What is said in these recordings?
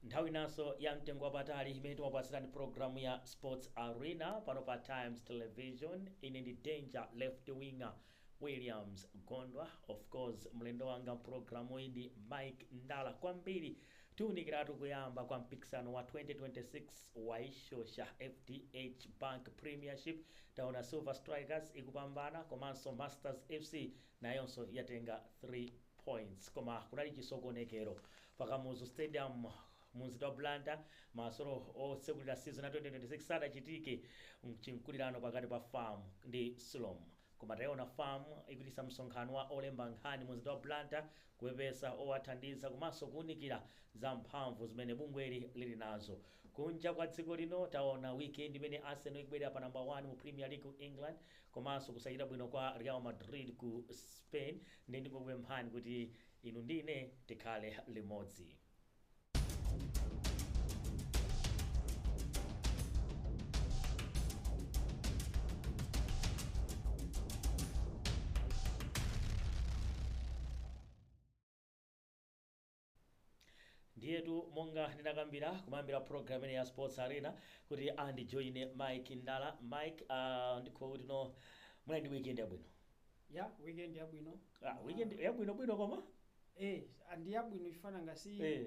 nthawi inanso ya mtengo wapatali imene timapatsirani programu ya sports arena pano pa times television ine ndi danger left winger williams gondwa of course mlendo wanga mprogramu iyi ndi mike ndala kwambiri Tiunikiratu kuyamba kwa mpikisano wa 2026 wa yishosha fdh Bank Premiership, taona Silver Strikers ikupambana komanso Masters FC nayonso yatenga 3 points koma kunali chisokonekero pa Kamuzu Stadium munzinda wa Blantyre masewero otsekulira season ya 2026 sadachitike mchinkulirano pakati pa fam ndi sulom. Koma tayiona fam ikuchititsa msonkhano wa olemba nkhani munzinda wa Blantyre kupepesa owathandiza komanso kuunikira za mphamvu zimene bungweli lili nazo. Kunja kwa dziko lino taona weekend imene Arsenal ikubwerera pa number 1 mu Premier League ku England komanso kusachita bwino kwa Real Madrid ku Spain nde ndikukupemphani kuti inu ndi ine tikhale limodzi. ndiyetu monga ndinakambira kumayambira programme ya sports arena kuti andijoine mike ndala mike uh, ndikhoza kuti no munali ndi weekend yabwino ya weekend yabwino ah, weekend yabwinobwino koma Eh, ah, ndi yabwino chifukwa nanga si Eh.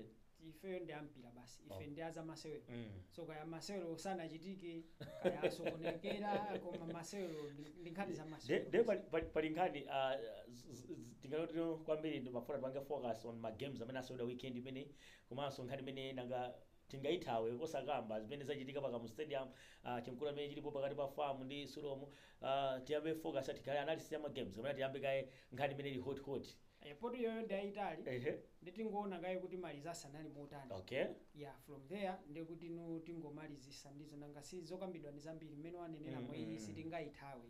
ifeyo ndi ampira basi ife Oh. ndi a zamasewero Mm. so kaya masewero sanachitike kaya asokonekera koma masewero ndi- ndi nkhani za masewero nde pali- pali- pali nkhani ah, z- z- z- tingoti no kwambiri ndimafuna tipange focus on ma games amene aseweredwa weekend imeneyi komanso nkhani imene nanga tingaithawe osakamba zimene zachitika pa kamuzu stadium uh, chinkulirano chimene chilipo pakati pa fam ndi sulom uh, tiyambe focus yathu ikhale analysis ya ma games kapena tiyambe kaye nkhani imene ili hot hot Eh, poti iyoyo ndi yayitali ehe nde tingoona kaye kuti ma results anali motani okay yeah from there nde kuti no tingomalizisa ndi izo nanga si zokambidwa ndi zambiri mmene wanenera Mm, mwe mm, iyi mm. sitingayithawe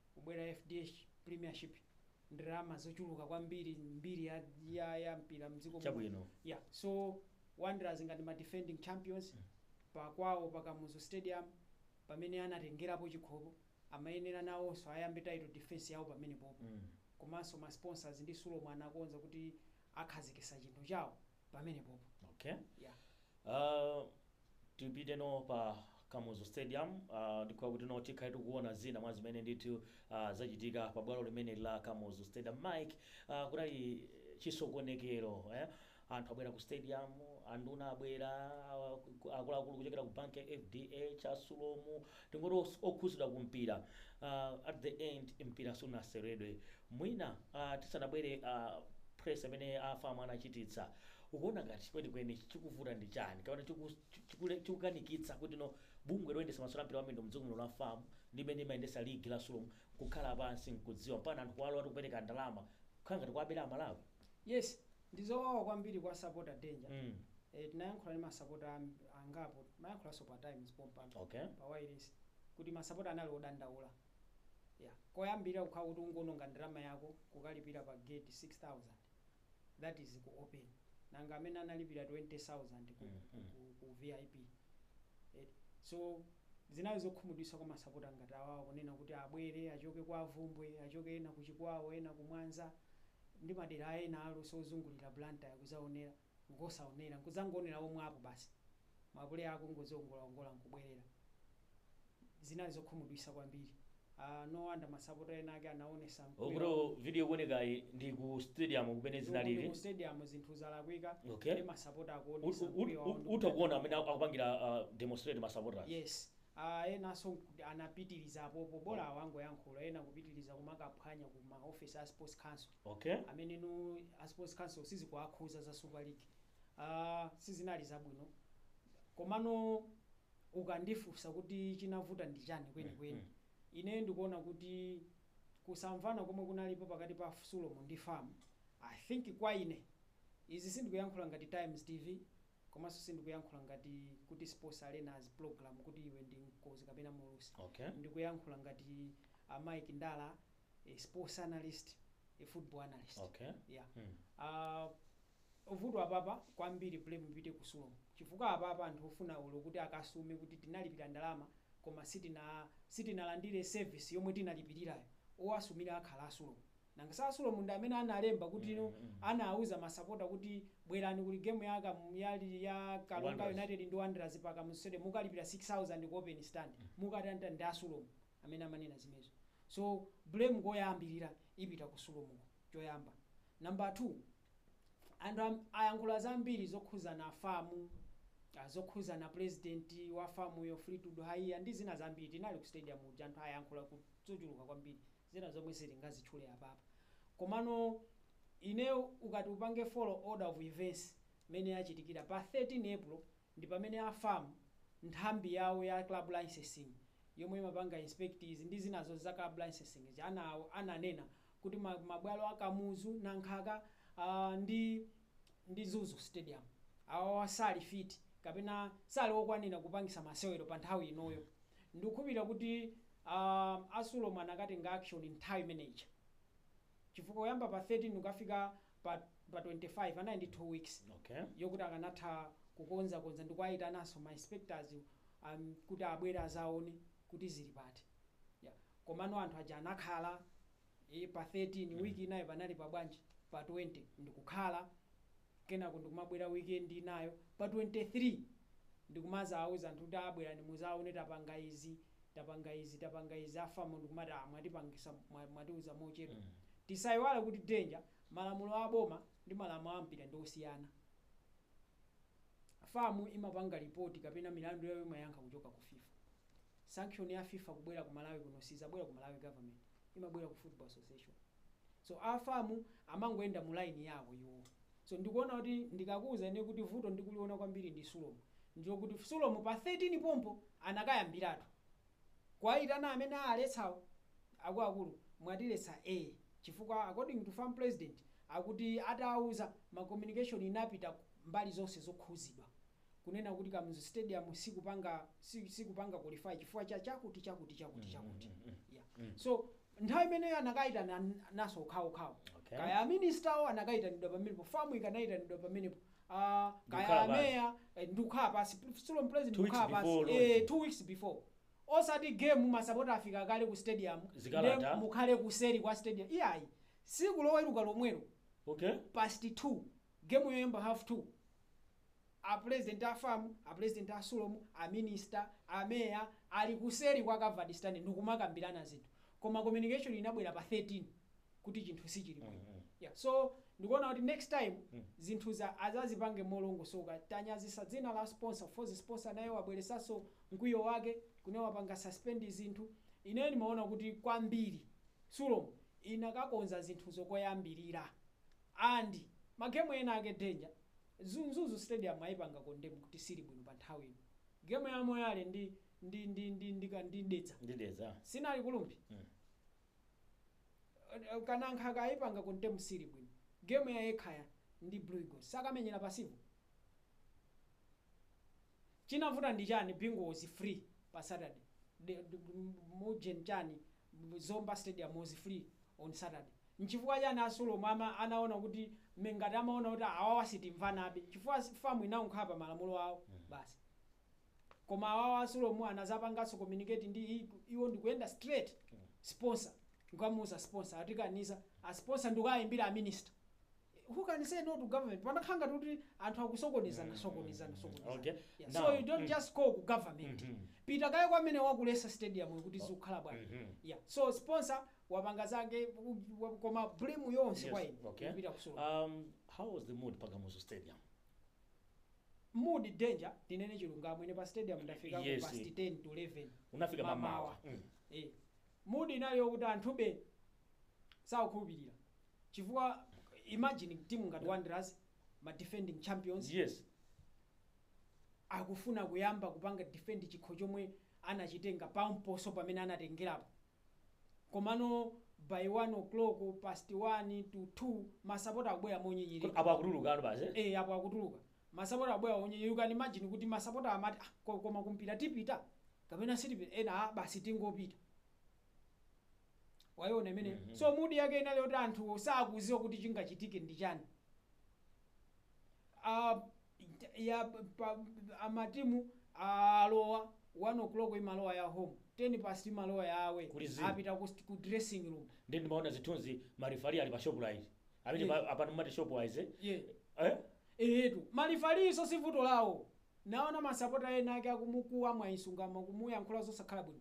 kubwera FDH premiership ndrama zochuluka kwambiri mbiri ya, ya, ya mpira mdziko muno. Chabwino. yeah so wanderers ngati ma defending champions pakwawo pa kamuzu stadium pamene anatengerapo chikhopo amayenera nawonso ayambe title defense yawo pamenepopo Mm. komanso ma sponsors ndi sulom anakonza kuti akhazikisa chinthu chawo pamenepopo okay yeah Uh, Tipite no pa Kamuzu Stadium ndikufuna kuti no tikhale tikuona zina mwa zimene ndithu zachitika pa bwalo limeneli la Kamuzu Stadium. Mike, kunali chisokonekero eh, anthu abwera ku stadium, anduna abwera, akuluakulu kuchokera ku bank ya FDH, a Sulomu, tingoti os- okhuzidwa ku mpira uh, at the end mpira sunaseredwe mwina uh, tisanabwere uh, press imene afamu anachititsa Ukuona ngati kwenikweni chikuvuta ndi chani kapena chiku, chiku, chikukanikitsa kuti no bungwe loyendesa masewero ampira wamiyendo mdziko muno la fam ndi imene imayendesa ligi la sulom kukhala pansi nkudziwa mpakana anthu kuwalolatu kupereka ndalama kukhala ngati kuwabera amalawi? Yes ndizowawa kwambiri kwa sapota danger Mm. eh, tinayankhula ndi masapota am- angapo amayankhulanso pa times pompano Okay. pa wailesi kuti masapota anali odandaula yeah. koyambirira kukhala kuti ungoononga ndalama yako kukalipira pa gate 6000 that is ku open nanga amene analipira 20000 ku, Mhm. ku, ku vip eti so zinali zokhumudwisa kwa masapota ngati awawo kunena kuti abwere achoke kwa bvumbwe achoke ena ku chikwawa ena ku mwanza ndi madera ena alionse ozungulira blantyre kuzaonera nkusaonera nkuzangoonera warm up basi mapuleya akungoziongolaongola nkubwerera zinali zokhumudwisa kwambiri uh, no wonder masapota ena ake anaonesa mkwiyo okuti video ikuonekayi ndi ku stadium kumene kumene zinalili mu stadium zinthu zalakwika Okay. ndi masapota U- akuonesa u- mkwiyo u- wawo utha kuona amene aku- akupangira uh, demonstrate masapota yes uh, enanso nkuti anapitiriza apopo bola awa angoyankhula ena kupitiriza kumakaphwanya ku ma office a sports council okay amene no a sports council sizikuwakhuza za super league uh, sizinali zabwino komano ukandifunsa kuti chinavuta ndi chani kwenikweni, ineyo ndikuona kuti kusamvana komwe kunalipo pakati pa Sulom ndi fam, I think kwa ine, izi sindikuyankhula ngati Times TV komanso sindikuyankhula ngati kuti Sports Arena's program kuti iwe ndi mkonzi kapena muulutsi, Okay. ndikuyankhula ngati a Mike Ndala a sports analyst, a football analyst. Okay. Yeah. Mm. Uh, vuto apapa kwambiri blame ipite ku sulom chifukwa apapa anthu ofuna ulo kuti akasume kuti tinalipira ndalama koma sitina sitinalandire service yomwe tinalipirirayo owasumira akhala asulomu nanga si asulomu ndi amene analemba kuti no anauza masapota kuti bwerani kuli gemu ya, Kam- ya, ya karonga Wanderers. united ndi wanderers pa kamuzu stadium mukalipira 6000 ku open stand mukatanitani ndi asulomu amene amanena zimezo so blame koyambilira ipita ku sulom ko choyamba number 2 anthu am, ayankhula zambiri zokhuzana afamu ah, zokhuzana president wa famuyo fleetwood haiya ndi zina zambiri tinali ku stadium muja anthu ayankhula ku- zochuluka kwambiri zina zomwe sitingazitchule apapa komano ine ukati upange follow order of events mene yachitikira pa 13 april ndi pamene a fam nthambi yawo ya club licensing yomwe imapanga inspectors ndi zinazo za club licensing zija ana ananena kuti ma mabwalo a Kamuzu, Nankhaka aah ndi ndi Mzuzu stadium awawa sali fiti kapena sali okwanira kupangisa masewero pa nthawi inoyo ndikukhulupilira kuti aah a sulom anakatenga action nthawi imene ija chifukwa kuyamba pa 13 kukafika pa pa 25 anali ndi 2 weeks okay yokuti akanatha kukonzakonza ndi kuwayitananso ma inspectors um, kuti abwere azaone kuti zili pati yeah. komano anthu aja anakhala e, pa 13 week inayo panali pa bwanji pa 20 ndikukhala kenako ndikumabwera weekend inayo pa 23 ndikumazauza anthu kuti aa bwerani ndi muzaone tapanga izi, tapanga izi, tapanga izi a fam ndikumati aa mwatipangisa, mwatiuza mochedwa. Tisaiwale kuti danger malamulo a boma ndi malamulo a mpira ndi osiyana. Fam imapanga report kapena milandu yawo imayankha kuchoka ku fifa. sanction ya fifa kubwera ku malawi kuno sizabwera ku malawi government imabwera ku football association so a fam amangoyenda mu line yawo iwowo so ndikuona kuti ndikakuuza ine kuti vuto ndikuliona kwambiri ndi sulom ndikuti sulom pa 13 pompo anakayambiratu kuwayitana amene aletsawo akuluakulu mwatiletsa a chifukwa according to fam president akuti atawuza ma communication inapita mbali zonse zokhuzidwa kunena kuti Kamuzu Stadium sikupanga sikupanga qualify chifukwa cha chakuti chakuti chakuti chakuti yeah so nthawi imeneyo anakaitananso okhaokhawo Okay. kaya aministawo anakaitanidwa pamenepo famu ikanaitanidwa pamenepo Ah, Ndikukhala kaya pansi. ameya eh, ndikukhala pasi sulom president Two weeks ndikukhala pasi before eh, launch. two weeks before osati game masapota afika kale ku stadium nde mukhale kuseri kwa stadium iyayi siku loweruka lomwelo okay past 2 game yoyamba half 2 A Pulezidenti a fam, a Pulezidenti a sulom, a Minister, a Mayor ali kuseri kwa covered stand ndikumakambirana zinthu koma communication inabwera pa 13 kuti chinthu sichili bwino yeah so ndikuona kuti next time zinthu azazipange molongosoka tanyazisa dzina la sponsor coz sponsor naye wabweresaso mkwiyo wake kunena wapanga suspend zinthu ineyo ndimaona kuti kwambiri sulom inakakonza zinthu zokoyambirira and magemu ena ake danger Mzuzu stadium ayipanga condemn kuti sili bwino pa nthawi ino. Game ya Moyale ndi ndi ndi ndi ndi ka ndi Dedza. ndi Dedza. Sinali ku Rumphi. Mm. Eh, Ka Nankhaka ayipanga condemn sili bwino. Game ya Ekhaya ndi Blue Eagles sakamenyera pasipo. Chinavuta ndi chani Bingu was free pa Saturday. De- de- Mujen chani Zomba stadium was free on Saturday. Nchifukwa chani a sulom ama anaona kuti me ngati amaona kuti awawa sitimvanabe chifukwa fam inangokhala pa malamulo awo basi koma awawa a sulom anazapanganso communicate ndi i iwo ndikuyenda straight sponsor nkukamuuza sponsor atikaniza a sponsor ndikukaimbira a minister who can say no to government pamakhala ngati kuti anthu akusokonezana sokonezana sokonezana Okay. yeah. Now, so you don't mm. just call ku government Mhm. pita kaye kwa amene wakulesa stadium yo kuti zikukhala bwanji Mhm. yeah so sponsor wapanga zake u- u- koma blame yonse kwa ine okay. ikupita ku Sulom. um, how was the mood pa kamuzu stadium mood danger tinene chilungamo ine pa stadium ndafika ku Yes. past 10 to 11 unafika Mamawa. mamawa mm. eh mood inali yokuti anthube sakukhulupirira chifukwa imagine timu ngati wanderers ma defending champions yes akufuna kuyamba kupanga defend chikho chomwe anachitenga pomponso pamene anatengerapo komano by 1 o'clock past 1 to 2 masapota akubwera Kodi monyinyirika apo akutulukano basi eh? eh apo akutuluka masapota akubwera onyinyirika you can imagine kuti masapota amati ah, ko- koma kumpira tipita kapena sitipita ena ah, basi tingopita wayiona imene Mhm. so mood yake inali yoti anthu sakuziwa kuti chingachitike ndi chani uh, ya pa amatimu alowa 1 o'clock imalowa ya home 10 past imalowa ya away Kuli zii. apita ku, st- ku dressing room ndi ndimaona zithunzi marifari ali pa Shoprite amene Yeah. pa- apano amati Shopwise yeah. eh etu malifaliso si vuto lawo naona masapota ena ake akumukuwa Mwayi Msungama kumuyankhula zosakhala bwino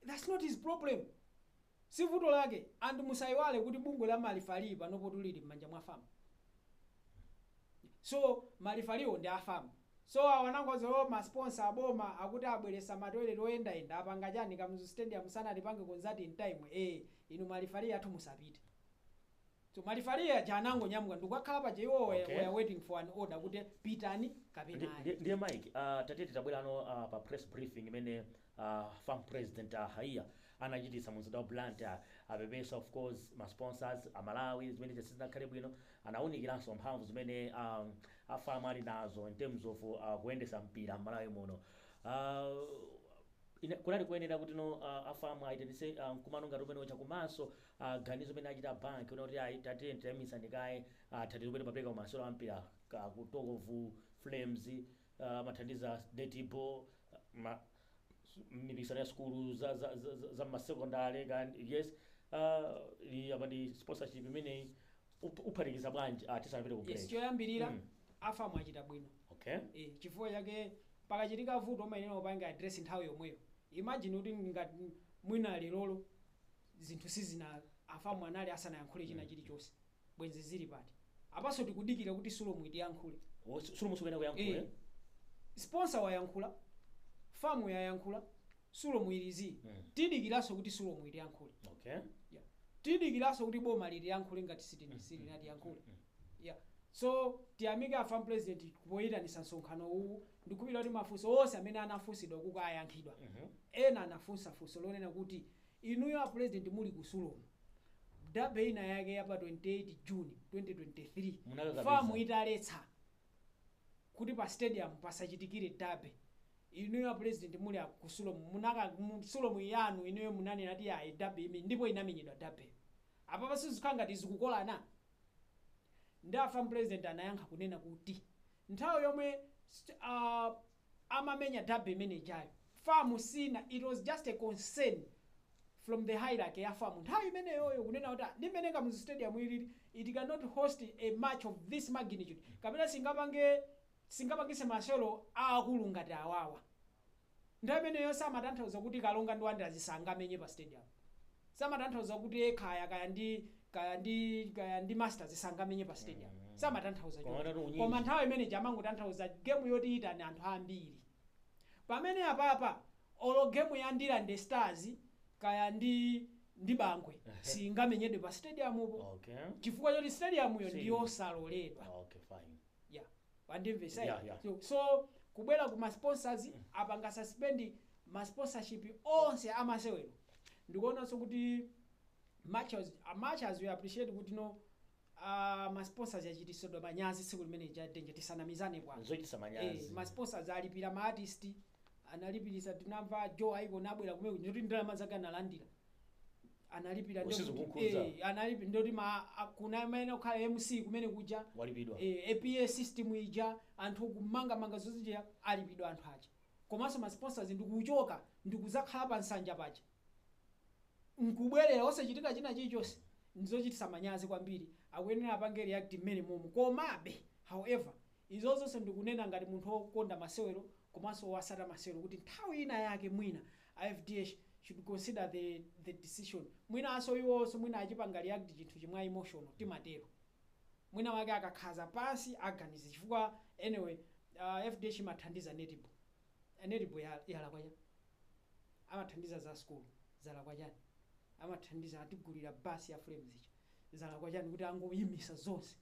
thats not his problem Si vuto lake and musaiwale kuti bungwe la ma referee panopotu lili mmanja mwa fam so ma referee wo ndi a fam so awa anangoti o ma sponsor a boma akuti abweresa ma toilet oyendayenda apanga chani Kamuzu stadium sanalipange konzati in time ee inu ma referee athu musapite so ma referee aja anangonyamuka ndikukakhala paja iwowo were, Okay. were waiting for an order kuti pitani Ndi- kapena ayi ndi- ndiye mike ah, tatiye tabwerano ah, pa press briefing imene A fam president a haiya anachitisa munzinda wa Blantyre apepesa of course ma sponsors a Malawi zimene zija sizinakhale bwino anawunikilaso mphamvu zimene a a fam ali nazo in terms of kuyendesa mpira mmalawi muno a ine kunali koyenera kutino a a fam ayitanise mkumano ngati umene uja komanso a ganizo limene achita a bank kunena kuti ayi tatiyeni tayimisani kaye a thandizo limene timapeleka ku masewero a mpira ka ku talk of flames Amathandiza netball ma mmipikisano ya sukulu za za za za mma secondary kani yes aah iyi apa ndi sponsorship imeneyi up uphatikiza bwanji aah tisanapite ku Yes, break choyambirira mm a fam achita bwino okay eh chifukwa chake pakachitika vuto umayenera upange address nthawi yomweyo imagine kuti ngati mwina lerolo zinthu sizina a fam anali asanayankhule china chilichonse Bwenzi zili pati apaso tikudikira kuti sulom itiyankhule. Oh sulom sukuyenera kuyankhula ee. Sponsor wayankhula, fam yayankhula, sulom ili zii. Tidikiraso kuti sulom itiyankhule yeah. Tidikiraso kuti boma litiyankhule ngati silinatiyankhule yeah. So tiyamike afam president poyitanisa msonkhano uwu. Ndikukhulupilira kuti mafuso onse amene anafunsidwa ukuku ayankhidwa. Ena anafunsa funso lonena kuti inuyo a president muli ku sulom. Derby ina yake ya pa 28 June 2023 fam italetsa kuti pa stadium pasachitikire derby, inuyo a president muli a ku sulom munaka mu sulom yanu inuyo munanena kuti ayi derby imenyedwe ndipo inamenyedwa derbyyo. Apapa sizikukhala ngati zikukolana? Nde a fam president anayankha kunena kuti nthawi yomwe a. amamenya derby imene ijayo fam siina it was just a concern from the hierarchy ya fam nthawi imeneyoyo kunena kuti ah, ndi mmene kamuzu stadium ilili it cannot host a match of this magnitude kapena singapange singapangise masewero aakulu ngati awawa nthawi imeneyo samatanthauza kuti karonga ndi wanderers zisangamenye pa stadium samatanthauza kuti eh, kaya kaya ndi kaya ndi kaya ndi masters sangamenye pa stadium Mm. samatanthauza Koma choncho. atatu unyinji. koma nthawi imene ija amangotanthauza game yoti itani anthu ambiri pamene apapa olo game ya ndirande stars kaya ndi ndi bangwe singamenyedwe pa stadium po okay chifukwa choti stadium yo Si. ndiyosaloledwa okay fine yeah wandimvesa Yeah, yeah. so, so kubwera ku ma sponsors apanga suspend ma sponsorship onse amasewero ndikuonanso kuti much as, much as we appreciate kuti no uh, ma sponsors achitisidwa manyazi tsiku limene lija nde tisanamizane bwana zochitisa Eh, manyazi ma sponsors alipira ma artist analipirisa tinamva joe ikon abwera kumene kuti ndalama zake analandira analipira ndi Usizo kuti- kukhudza. eh, analipi ndoti ma a- kuna amene okhala mc kumene kuja Walipidwa. eh, a pa system ija anthu kumangamanga zozija alipidwa anthu aja komanso ma sponsors ndikuchoka ndikuzakhala pa nsanja paja nkubwerera osachitika china chilichonse ndizochitisa manyazi kwambiri akuyenera apange react mmene momwe komabe however izo zonse ndikunena ngati munthu wokonda masewero komanso wotsata masewero kuti nthawi ina yake mwina a fdh should consider the the decision mwinanso iwonso mwina achipanga react chinthuchi mwa emotional timatero mwina wake akakhazika pansi aganize chifukwa anyway uh, fdh imathandiza netball Eh, netball ya- yalakwa chani amathandiza za school zalakwa chani amathandiza atigulira basi ya flames ichi zalakwa chani kuti angoyimisa zonse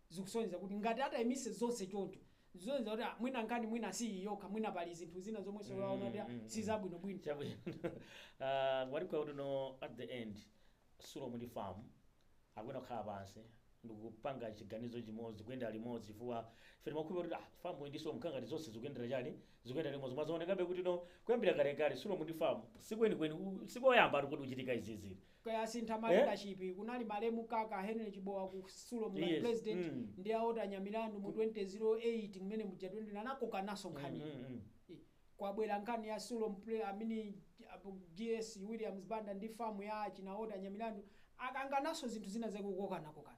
zikusonyeza kuti ngati atayimise zonse choncho Zisonyeza kuti ah, mwina nkhani mwina si iyi yokha, mwina pali zinthu zina zomwenso waona kuti ah, Mm, mm, si mm. zabwinobwino. chabwino Ah, wali kwa kuti no at the end sulomu ndi famu akuyenera kukhala pansi ndikupanga chiganizo chimodzi kuyenda limodzi chifukwa ife timakhulupira kuti ah, famu ndi sulomu ngati zonse zikuyendera chani zikuyendera limodzi mwazaonekabe kuti no kuyambira kalekale sulomu ndi famu sikwenikweni u- sikoyamba kuti kuchitika izizi Kaya kusintha ma Eh? leadership kunali malemu Kaka Henry Chibowa ku Sulom kali Yes, president mm. ndi a Walter Nyamilandu mu 2008 mmene muja 20 anakokananso nkhani. Mm, mm, mm. Eh, Kwabwera nkhani ya Sulom pre amene apo GS Williams Banda ndi famu ya china Walter Nyamilandu akangananso zinthu zina zake kukokana kokana.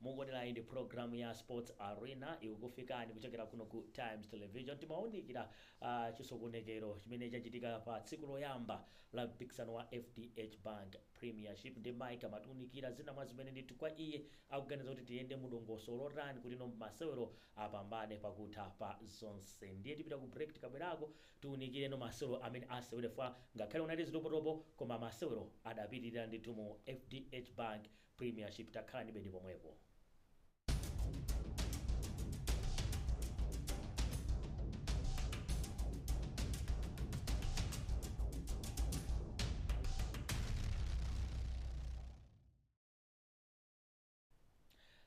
Mukuonera inde program ya sports arena ikukufikani kuchokera kuno ku times television timaunikira chisokonekero chimene chachitika pa tsiku loyamba la mpikisano wa fdh bank premiership ndi Mike amatiunikira zina mwa zimene ndithu kwa iye akuganiza kuti tiyende mu dongosolo lotani kuti no masewero apambane pakutha pa zonse ndiye tipita ku break tikabwerako tiunikire no masewero amene aseweredwa ngakhale kunali zitopotopo koma masewero adapitilira ndithu mu fdh bank Premiership takhalanibe ndi pomwepo.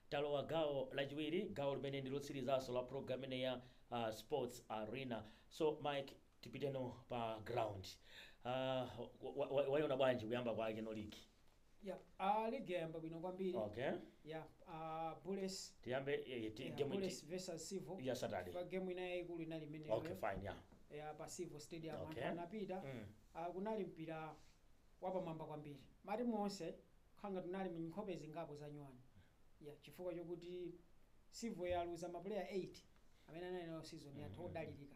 talowa gawo lachiwiri gawo limene ndi lotsirizanso la program imene ya uh, sports arena so mike tipiteno pa ground uh, wa- wa- waiona bwanji kuyamba kwake no ligi Yeah, ah, league yayamba bwino kwambiri. Okay. Yeah, ah, Bullets. Tiyambe eh, ti- Yeah, game Bullets iti- versus Civo. ya Saturday. Pa game inayi yayikulu inali imene. Okay, fine, yeah. Yeah, pa Civo Stadium anthu Okay. anapita. Mm. Ah, kunali mpira wapamwamba kwambiri. Matimu onse khangati munali nkhope zingapo za nyuwani. Yeah, chifukwa chokuti Civo yaluza mapuleya 8 amene anali nayo season yatha Mhm. odalirika.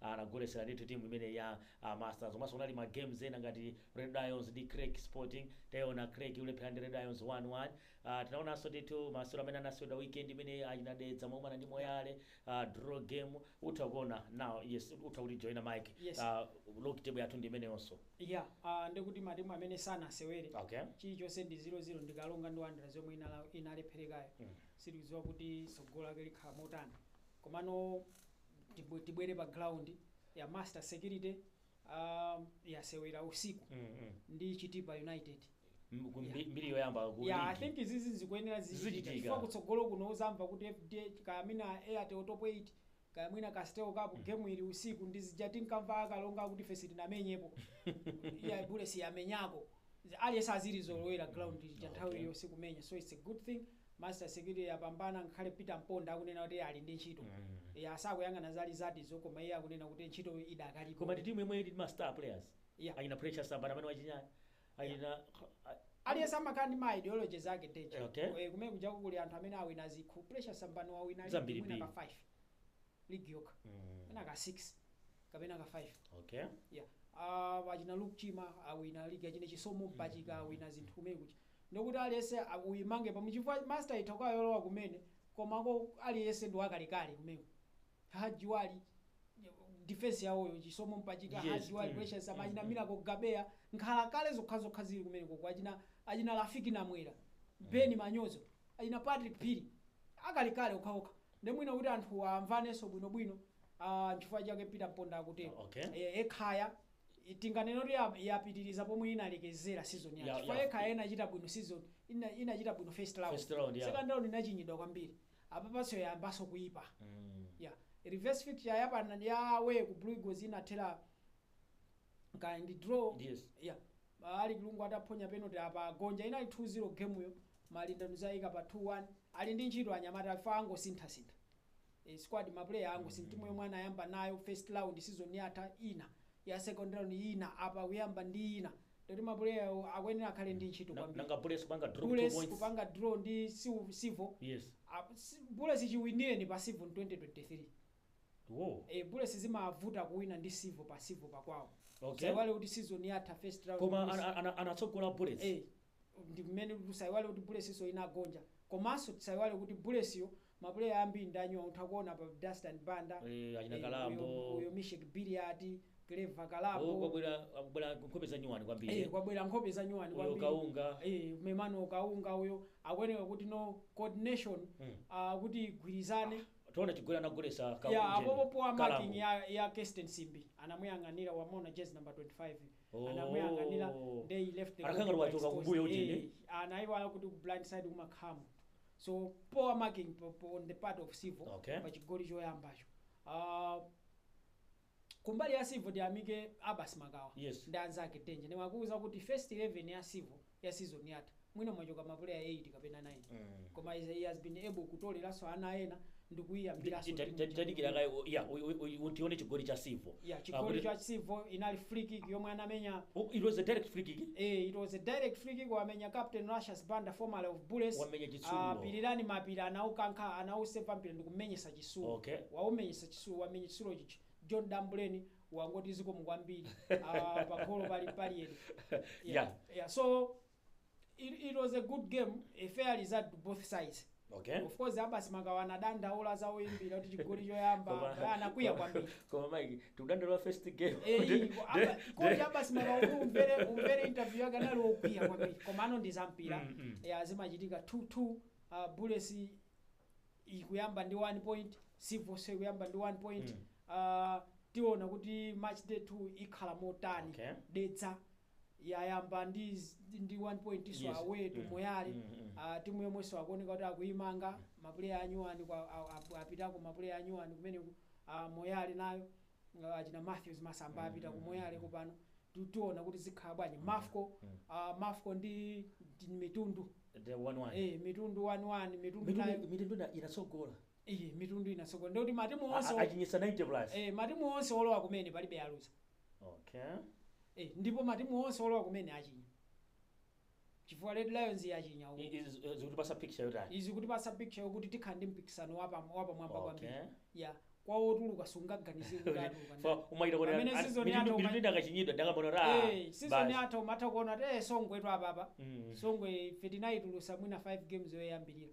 Anagolesela ndithu team imeneyi ya a masters komanso kunali ma games ena ngati red lions ndi creck sporting taiona creck ikulepherana ndi red lions 1 1 ah tinaonanso ndithu masewero amene anaseweredwa weekend imeneyi achina dedza akumana ndi moyale ah draw game utha kuona now yes utha kuti joina mike Yes. ah log table yathu ndi imeneyonso ya ah, ndikuti matimu amene sanasewere okay chilichonse ndi 00 ndi kalonga ndi wanderers yomwe inala- inalepherekayo Mm. sitikudziwa kuti tsogolo lake likhala motani komano tibwe- tibwere pa ground ya master security um, yasewera usiku Mm, mm. ndi chitipa united M- ku- mbi- mbiri yoyamba ku ya i ligi. think izizi zikuyenera Zichitika. zichitika chifukwa kutsogolo kuno uzamva kuti fdh kaya mwina airtel top 8 kaya mwina castel cup game ili usiku ndi zija tinkamva a karonga kuti ife sitinamenyepo iya bullets yamenyako aliyense azilizolowera ground cha nthawi Okay. ya usiku kumenya so it's a good thing Master security yapambana ngakhale Peter Mponda akunena kuti ali ndi ntchito. Eya sakuyang'ana za result zo koma iye akunena kuti ntchito idakalipo. Koma ndi team yomwe ili ndi ma star players. Yeah. Achina Precious Sambani amene wachinya. Achina Aliyense amakhala ndi ma ideologies ake Deji. Eh, okay. Eh, kumene kujako kuli anthu amene awina zikho. Precious Sambani wawina league Zambiri mwina ka mbiri. 5. League yokha. Mm. Mwina ka 6 kapena ka 5. Okay. Yeah. Uh, achina Luke Chima awina league achina Chisomo Mpachika awina zinthu kumene kuja. Ndekuti aliyese uyimange pomwe chifukwa master itha kukhala yolowa kumene komako aliyese ndi wakalekale kumeneko hadji wali defense yawoyo chisomo mpachika hadji Yes. wali Mm. precious Mm. achina Mm. miracle gabeya nkhalakale zokhazokha zili kumenekoko achina achina rafiq namwera ben manyozo achina patrick phiri akalekale okhaokha nde mwina kuti anthuwa amvanenso bwinobwino ah, nchifukwa chake peter mponda akutero Okay. Eh, ekhaya i- tinganene kuti ya- yapitiriza pomwe inalekezera season Ya- yatha chifukwa ya- ekhaya inachita bwino season ina- inachita bwino first round First round, ya. second round inachinyidwa kwambiri apapanso yayambanso kuyipa Mm. ya reverse fixture yapana ya away ku blue eagles inathera kaya ndi draw Yes. ya alick lungu ataphonya penalty apa agonja inali 2-0 game yo malinda nkuzayika pa 2-1 ali ndi ntchito anyamata chifukwa angosinthasintha ee squad ma player ango si timu yomwe anayamba nayo first round season yatha ina ya second round ina apa kuyamba ndi ina ndikuti ma player awo akuyenera akhale ndi ntchito Na- kwambiri nanga bullets kupanga drop two bullets points kupanga draw ndi Sil- civil yes Ah, si- bullets chiwinireni pa civil 2023 wo e, bullets zimavuta kuwina ndi civil pa civil pakwawo Okay. tisaiwale kuti season yatha first round koma bullets- ana- ana- anatsogola bullets Eh. ndi mmene tisaiwale kuti bulletsnso inagonja komanso tisaiwale kuti bulletsyo mapuleya ambiri ndi anyuwani utha kuona pa dastan banda Eh, achina eh, Kalambo. uyo- uyo misheck billiat clever Oh, kalambo kwabwera akubwera nkhope za nyuwani kwambiri Eh, kwabwera nkhope za nyuwani Uyo kwambiri. Kaunga. Eh, memano kaunga uyo akuoneka kuti no coordination Mm. ah, kuti igwirizane tiona chigoli anagolesa ya apopo poor marking ya, ya Kesten simbi anamuyang'anira wamona jezi number 25 Oh. anamuyang'anira nde he left the Anakhala ngati body wachoka exposed. kumbuyo kuti Eh, ine. anaiwala kuti ku blind side kumakhala munthu so poor marking po- po- on the part of civil Okay. pa chigoli choyambacho Ah, kumbali ya civil ndiyamike abbas makawa Yes. ndi anzake denje ndiwakuuza kuti first 11 ya civil ya season yatha mwina mwachoka ma player 8 kapena 9 koma he- he has been able kutoleranso ana ena ndikuyiyambiranso Ti- ti- ti- tadikira kaye u- ya, u- u- u- utione chigoli cha Civo ya chigoli cha Civo inali free kick yomwe anamenya it was a direct free kick Eh, it was a direct free kick wamenya captain Righteous Banda formerly of Bullets. Wamenya Chitsulo. Ah, Pilirani Mapira anaukankha anausepa mpira ndikumenyesa Chitsulo. Okay. Waumenyesa Chitsulo wamenya Chitsulo chichi. John Dambuleni wangoti zikomo kwambiri Ah, pagolo palibe Yeah. yeah. so it, it was a good game a fair result to both sides okay of course abasi makawa anadandaula za oyimbira kuti chigoli choyamba Koma- anakwiya kwambiri koma mike tikudandaula first game Eh, Kuti- iko- apa- de- ikondi de- abasi makawa kuti umvere umvere interview yake anali okwiya kwambiri koma ano ndi zampira Mm, mm. yeah, zimachitika 2-2 uh, bullets ikuyamba ndi 1 point Civoso ikuyamba ndi 1 point Mm. Ah, tiona kuti match day 2 ikhala motani Okay. dedza yayamba ndi z- ndi 1 pointso Yes. away to Mm. moyale Mm, mm. Ah, timu yomwenso akuoneka kuti akuyimanga mapuleya anyuwani kwa- a- a- apitako mapuleya anyuwani kumeneku ah, moyale nayo uh, achina matthews masamba apita ku moyale kopano tu- tiona kuti zikhala bwanji mafco uh, mafco ndi ndi mitundu the one one eh, mitundu waniwani mitundu mitundu nayo mitundu ina- inatsogola iyi mitundu inatsogola ndikuti matimu A- a- onse achinyisa 90 plus eh, matimu onse olowa kumene palibe aluza okay eh, ndipo matimu onse olowa kumene achinya chifukwa Red Lions yachinya uko. I- izi- eh, zikutipatsa picture yotani Izi zikutipatsa picture yokuti tikhala ndi mpikisano wa pam- wa pamwamba Okay. kwambiri. Ya kwa otuluka sungaganize kuti atuluka. ndani. Fa- umayita kuti Pamene ana- season mitu- yatha mitu uma- idachinyidwa ndakambona kuti ah, Eh, season basi. yatha umatha kuona kuti eh Songwetu apapa. Mm. Songwe ife tinaitulutsa mwina 5 games yoyambirira.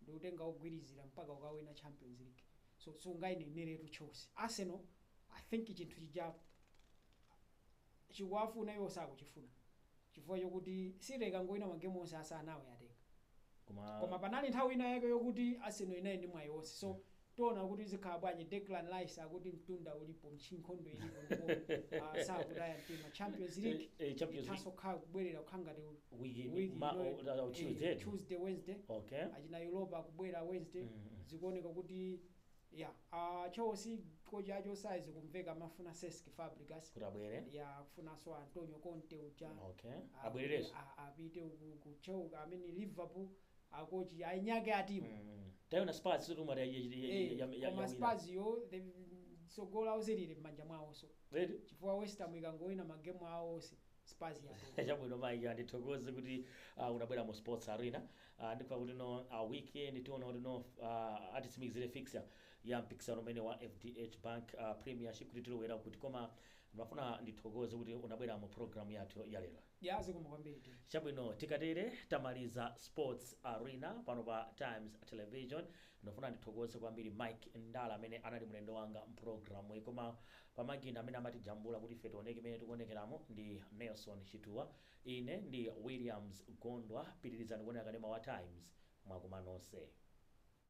ndikutenga wogwirizira mpaka kukawina champions league so sungaineneretu chelsea. arsenal i think chinthu chija chikuwafuna iwo sakuchifuna chifukwa chokuti city ikangowina magemu onse asanuwo yatenga koma koma panali nthawi ina yake yokuti arsenal inali ndi mwayi wonse so Tiona kuti zikhala bwanji Declan Rice akuti mtunda ulipo nkhondo ilipo ndipo ah, sakutaya mtima Champions League Eh, eh, Champions League. ithaso khala kubwerera kukhala ngati u- Weekend, week ma- ino- oh, oh, eh, Tuesday. Tuesday Wednesday okay achina Europa kubwera Wednesday Mm. zikuoneka kuti ya ah, Chelsea kochi achotsedwa zikumveka amafuna Cesc Fabregas kuti abwere ya kufunanso Antonio Conte uja okay Ah, abwerereso a- apite ku- ku Chelsea amene Liverpool a kochi ainyake a timu tayona spurs sotu mwati ya- ya- ya- ya- Eh, ya- ya- koma yawina. spurs yo the- tsogolo lawo silili m'manja mwawonso Eti? chifukwa west ham ikangowina magemu awo onse spurs yatopa chabwino mayi andithokoze kuti uh, unabwera mu sports arena uh, ndipo kuti no uh, weekend tiona kuti no uh, atitsimikizire fixture ya mpikisano umene wa fdh bank uh, premiership kuti tilowera kuti koma ndimafuna ndithokoze kuti unabwera mu program yathu ya lero Yaa zikomo kwambiri Dee. Chabwino tikatere tamaliza sports arena pano pa Times Television. Ndikufuna ndithokoze kwambiri Mike Ndala amene anali mlendo wanga m'programuyi. Koma pamakina amene amatijambula kuti ife tioneke mmene tikuonekeramu ndi Nelson Chituwa. Ine ndi Williams Gondwa. Pitirizani kuonera kanema wa Times. Mwakoma nonse.